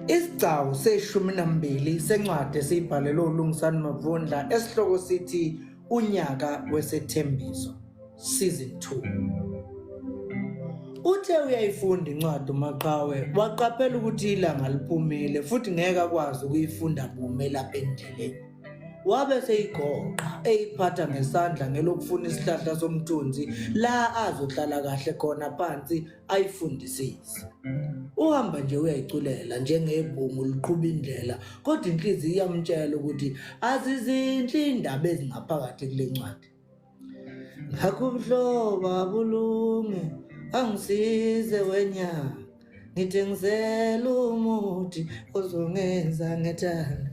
Isigcawu seshumi nambili sencwadi esiyibhalelwe uLungisani Mavundla esihloko sithi Unyaka Wesethembiso Season 2. Uthe uyayifunda incwadi uMaqhawe waqaphela ukuthi ilanga liphumile futhi ngeke akwazi ukuyifunda bume lapha endleleni. Wabe seyigoqa eyiphatha ngesandla ngelokufuna isihlahla somthunzi la azohlala kahle khona phansi ayifundisisi uhamba nje uyayiculela njengebhungu liqhuba indlela kodwa inhliziyo iyamtshela ukuthi azizinhle indaba ezingaphakathi kule ncwadi ngakho ubuhlobo abulunge angisize wenyanga ngithengisela umuthi ozongenza ngethanda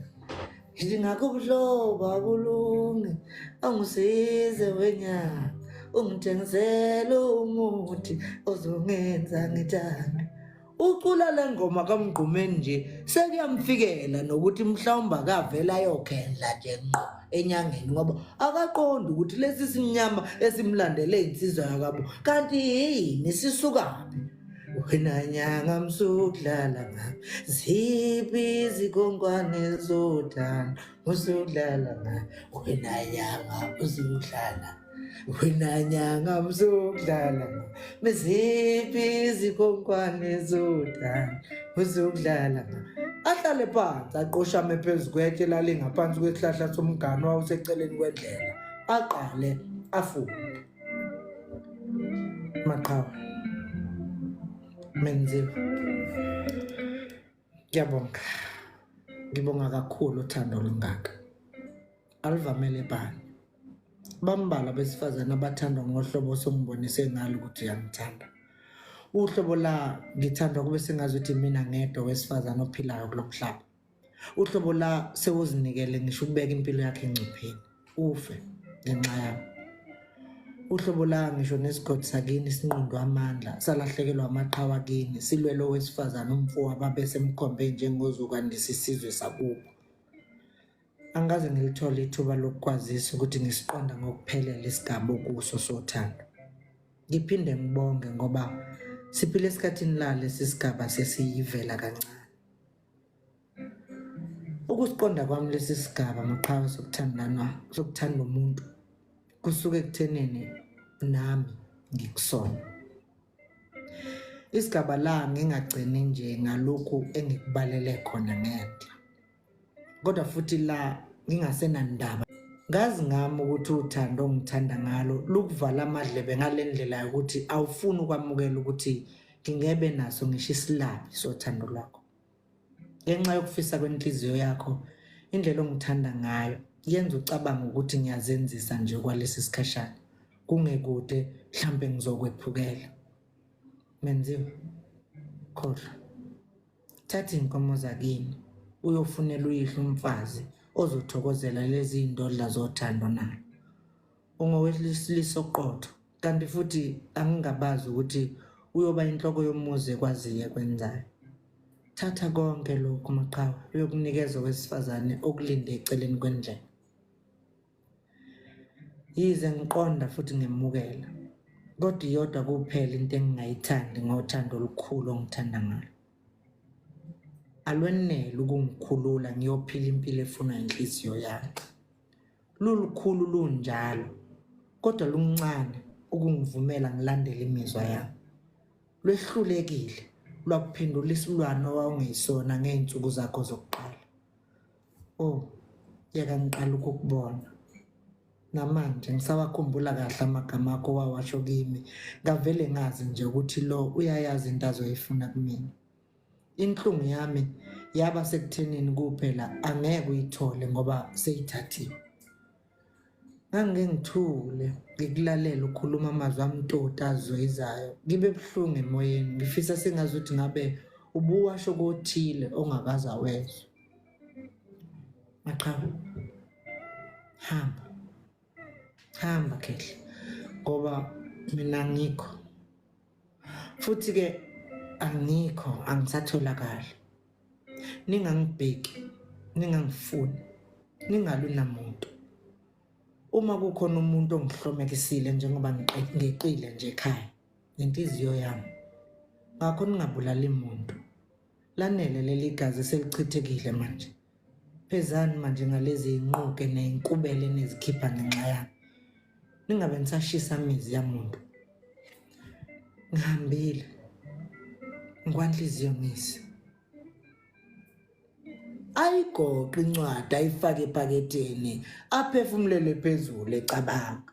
ngingakho ubuhlobo abulungi angisize wenyanga ungithengisele umuthi ozongenza ngithande ucula le ngoma kamgqumeni nje sekuyamfikela nokuthi mhlawumbe akavele ayokhendla nje ngqo enyangeni ngoba akaqondi ukuthi lesi simnyama esimlandele insizwa yakabo kanti yini sisukaphi wena nyanga msudlala ngami ziphi izikongwane zodana usudlala ngami wena nyanga usudlala wena nyanga msudlala ngami ziphi izikongwane zodana usudlala ngami ahlale phansi aqoshame phezu kwetshe lalingaphansi kwesihlahla somgano wawuseceleni kwendlela aqale afunde Maqhawe. Menziwa. Ngiyabonga. Ngibonga kakhulu uthando olungaka. Alivamele bani. Bambala besifazana abathandwa ngohlobo osongibonise ngalo ukuthi uyangithanda. Uhlobo la ngithandwa kube sengazi ukuthi mina ngedwa wesifazana ophilayo kulomhlaba. uhlobo la sewuzinikele ngisho ukubeka impilo yakhe engcupheni ufe ngenxa yami uhlobo la ngisho nesigodi sakini sinqundwa amandla salahlekelwa amaqhawa kini silwele owesifazane umfowa babesemkhombe njengozokwandisa isizwe sakubo angikaze ngilithole ithuba lokukwazisa ukuthi ngisiqonda ngokuphelele isigaba okuso sothando ngiphinde ngibonge ngoba siphile esikhathini lale sisigaba sesiyivela kancane Ukusiqonda kwami lesi sigaba maqhawe sokuthandana sokuthanda umuntu kusuke kuthenene nami ngikusona. Isigaba la ngingagcini nje ngalokhu engikubalele khona ngenhla. Kodwa futhi la ngingasenandaba ngazi ngami ukuthi uthando ongithanda ngalo lukuvala amadlebe ngale ndlela yokuthi awufuni ukwamukela ukuthi ngingebe naso ngisho isilabi sothando lwakho ngenxa yokufisa kwenhliziyo yakho indlela ongithanda ngayo yenza ucabanga ukuthi ngiyazenzisa nje kwalesi sikhashana kungekude mhlampe ngizokwephukela menziwe khohlwa thatha iy'nkomo zakini uyofunela uyihlo umfazi ozothokozela lezi y'ndodla zothando nayo ungowesilisa oqotho kanti futhi angingabazi ukuthi uyoba inhloko yomuzi ekwaziyo ekwenzayo thatha konke lokhu maqhawe uyokunikeza owesifazane okulinde eceleni kwendlela yize ngiqonda futhi ngimukela kodwa iyodwa kuphela into engingayithandi ngothando olukhulu ongithanda ngalo alwenele ukungikhulula ngiyophila impilo efuna inhliziyo yakhe Lulukhulu lunjalo, kodwa luncane ukungivumela ngilandele imizwa yami. Lwehlulekile lwakuphendula isilwane owawungeyisona ngey'nsuku zakho zokuqala. O, oh, yeka ngiqala ukukubona. Namanje ngisawakhumbula kahle amagama akho wawasho kimi, ngavele ngazi nje ukuthi lo uyayazi into azoyifuna kumina. inhlungu yami yaba sekuthenini kuphela angeke uyithole ngoba seyithathiwe ngangike ngithule ngikulalela ukhuluma amazwi amtoti azwezayo ngibe buhlungu emoyeni ngifisa sengazi ukuthi ngabe ubuwasho kothile ongakaze awezwe maqhawe hamba hamba khehla ngoba mina ngikho futhi-ke angikho angisatholakali ningangibheki ningangifuni ningalwi namuntu uma kukhona umuntu ongihlomekisile njengoba ngiqile nje ekhaya ngenhliziyo yami ngakho ningabulali muntu Lanele leli gazi selichithekile manje. Phezani manje ngalezi inquke nezinkubele nezikhipha ngenxa yami. Ningabe nisashisa imizi yamuntu. Ngihambile. Ngwanhliziyo ngisi. Ayigoqe incwadi ayifake epaketeni aphefumulele phezulu ecabanga.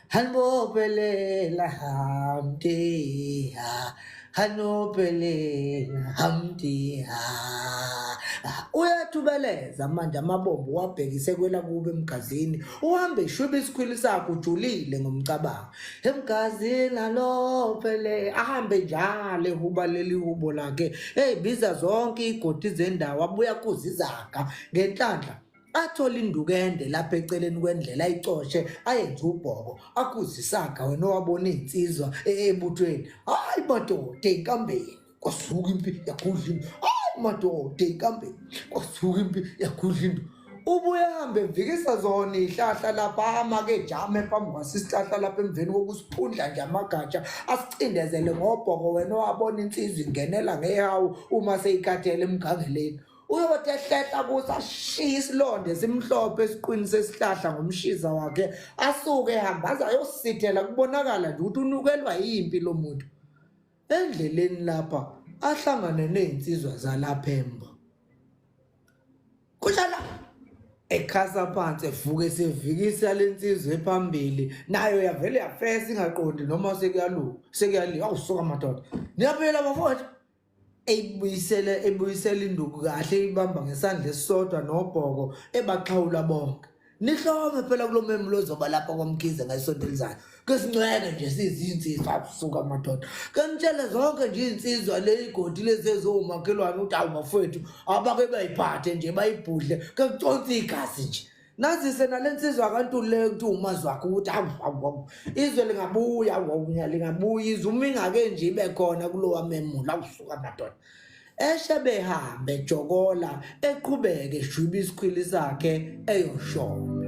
Hanopelela hamdiha hanopelela hamdiha uyathubeleza manje amabombo wabhekise kwela kuba emgazini uhambe ishwiba isikhwili sakho ujulile ngomcabango emgazini hanopelela ahambe njalo ehuba leli hubo lakhe eyibiza zonke iy'godi zendawo abuya kuzizaga ngenhlanhla athola induku ende lapha eceleni kwendlela ayicoshe ayenze ubhoko akhuze isaga wena owabona iy'nsizwa ebuthweni hhayi madoda enkambeni kwasuka impi yakhudla into hhayi madoda enkambeni kwasuka impi yakhudla into ubuyahambe mvikisa zona ihlahla lapha amake jame phambi kwasisihlahla lapha emveni kokusiphundla nje amagatsha asicindezele ngobhoko wena owabona insizwa ingenela ngehawu uma seyikhathele emgangeleni uyothi ehlehla kuthi ashiye isilonde simhlophe esiqwini sesihlahla ngomshiza wakhe asuke ehamba aze ayosithela kubonakala nje ukuthi unukelwa yimpi lo muntu endleleni lapha ahlangane ney'nsizwa zalapha embo kunjalo ekhasa phansi evuke sevikisa le nsizwa ephambili nayo yavele yafesa ingaqondi noma sekuyalunga sekuyaliwa awusuka madoda niyaphela bafowethu eyibuyisele ebuyisela induku kahle ibamba ngesandla esisodwa nobhoko ebaxhawula bonke nihlome phela kulo memu lozoba lapha kwamkhize ngesonto elizayo ke sincwele nje sizinsizwa abusuka amadoda ke nitshele zonke nje iy'nsizwa le igodi lezi eziwumakhelwane ukuthi awu bafowethu abake bayiphathe nje bayibhudle ke kuconsa igazi nje nazise nale nsizwa abantu le kuthi umazi wakho ukuthi awu izwe lingabuya wawunya lingabuya izwe uma ingake nje ibe khona kulowa memula kusuka madoda eshe behambe jokola eqhubeke eshwiba isikhwili sakhe eyoshona